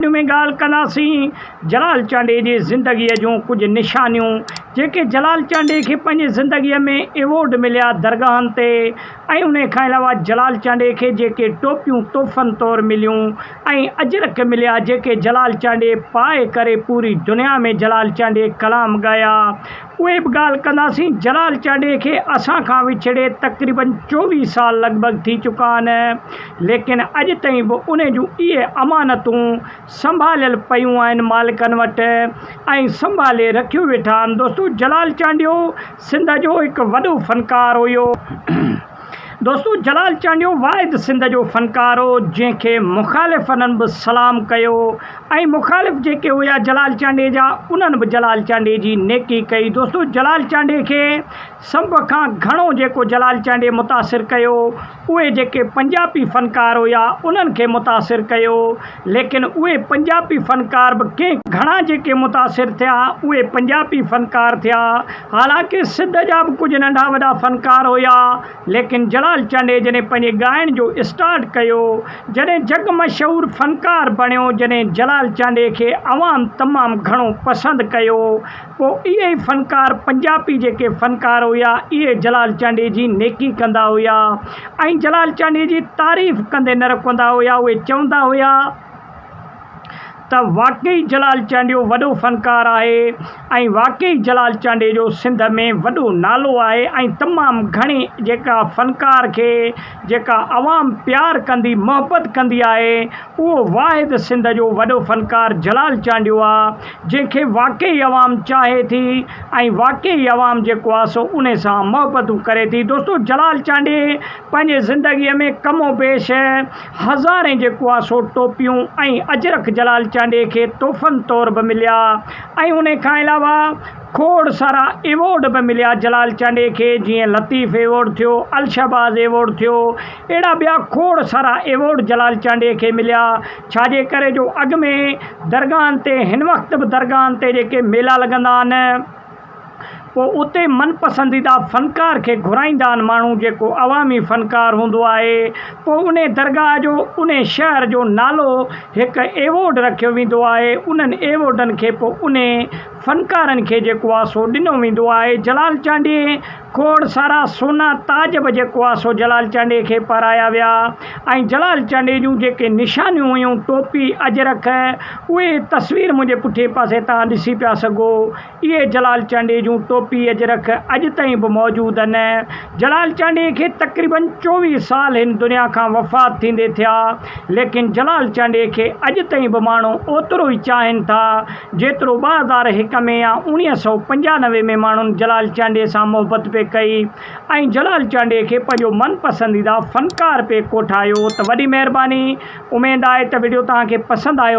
هن ۾ ڳالهه ڪنداسين جلال چانڊيي جي زندگيء جون ڪجهه نشانيون جيڪي جلال چانڊيي کي پنهنجي زندگيء ۾ ايوارڊ مليا درگاهن تي ۽ انهي کان علاوه جلال چانڊيي کي جيڪي ٽوپيون تحفن طور مليون ۽ اجرڪ مليا جيڪي جلال چانڊيي پائي ڪري پوري دنيا ۾ جلال چانڊيي ڪلام ڳايا اهي به ڳالهه ڪنداسين. جلال چانڊيي کي اسان کان وڇڙي تقريبن چوويهه سال لڳ ڀڳ ٿي چڪا آهن، ليڪن اڄ تائين به ان جون اهي امانتون سنڀاليل پيون آهن مالڪن وٽ ۽ سنڀالي رکيون ويٺا آهن. دوستو جلال چانڊيو سنڌ جو هڪ وڏو فنڪار هيو. دوستو جلال چانڊيو واحد سنڌ جو فنڪار هو جنهن کي مخالفن به سلام ڪيو ۽ مخالف جيڪي هيا جلال چانڊي جا انهن به جلال چانڊي جي نيڪي ڪئي دوستو جلال چانڊي کي سڀ کان گهڻو جيڪو جلال چانڊي متاثر ڪيو اهي جيڪي پنجابي فنڪار هيا انهن کي متاثر ڪيو ليڪن اهي پنجابي فنڪار به ڪي گهڻا جيڪي متاثر ٿيا اهي پنجابي فنڪار ٿيا حالانڪ سنڌ جا به ڪجهه ننڍا وڏا فنڪار هيا ليڪن جلال چانڊئي جڏهن پنهنجي ڳائڻ جو اسٽارٽ ڪيو جڏهن جڳ مشهور فنڪار بڻيو جڏهن جلال چانڊئي کي عوام تمام گهڻو پسند ڪيو پوء اهي ئي فنڪار پنجابي جيڪي فنڪار هيا اهي جلال چانڊيي جي نيڪي ڪندا هيا ۽ جلال چانڊيي جي تعريف ڪندي نه رڪندا هيا اهي چوندا هيا ته واقعي جلال چانڊيو وڏو فنڪار آهي ۽ واقعي جلال چانڊيي جو سنڌ ۾ وڏو نالو آهي ۽ تمام گهڻي جيڪا فنڪار کي جيڪا عوام پيار ڪندي محبت ڪندي آهي اهو واحد سنڌ جو وڏو فنڪار جلال چانڊيو آ جنهن کي واقعي عوام چاهي ٿي ۽ واقعي عوام جيڪو آ سو ان سان محبتون ڪري ٿي دوستو جلال چانڊي پنهنجي زندگي ۾ ڪم و بيش هزارين جيڪو آ سو ٽوپيون ۽ اجرڪ جلال چانڊي کي تحفن طور به مليا ۽ ان کان علاوه کوڙ سارا ايوارڊ به مليا جلال چانڊي کي جيئن لطيف ايوارڊ ٿيو الشهباز ايوارڊ ٿيو اهڙا ٻيا کوڙ سارا ايوارڊ جلال چانڊيي کي مليا، ڇاجي ڪري جو اڳ ۾ درگاهن تي هن وقت به درگاهن تي جيڪي ميلا لڳندا آهن، پوء اتي من پسنديده فنڪار کي گهرائيندا آهن ماڻهو جيڪو عوامي فنڪار هوندو آهي، پوء انهي درگاهه جو، انهي شهر جو نالو هڪ ايوارڊ رکيو ويندو آهي، انهن ايوارڊن کي پوء انهي فنڪارن کي جيڪو آهي سو ڏنو ويندو آهي، جلال چانڊيي کوڙ سارا سونا تاج به جيڪو آهي سو جلال چانڊيي کي پارايا ويا ۽ جلال چانڊيي جون جيڪي نشانيون هيون ٽوپي اجرڪ اهي تصوير منهنجي پٺئين پاسي توهان ڏسي پيا سگهو اهي جلال چانڊيي جون ٽوپي اجرڪ اڄ تائين به موجود ان جلال چانڊيي کي تقريبن چوويهه سال هن دنيا کان وفات ٿيندي ٿيا ليڪن جلال چانڊيي کي اڄ تائين به ماڻهو اوترو ئي چاهين ٿا جيترو ٻه هزار هڪ ۾ يا اوڻيهه سؤ پنجانوي ۾ ماڻهن جلال چانڊيي سان محبت پئي ڪئي ۽ جلال چانڊيي کي پنهنجو من پسنديده فنڪار پئي ڪوٺايو ته وڏي مهرباني اميد آهي ته وڊيو توهان کي پسند آيو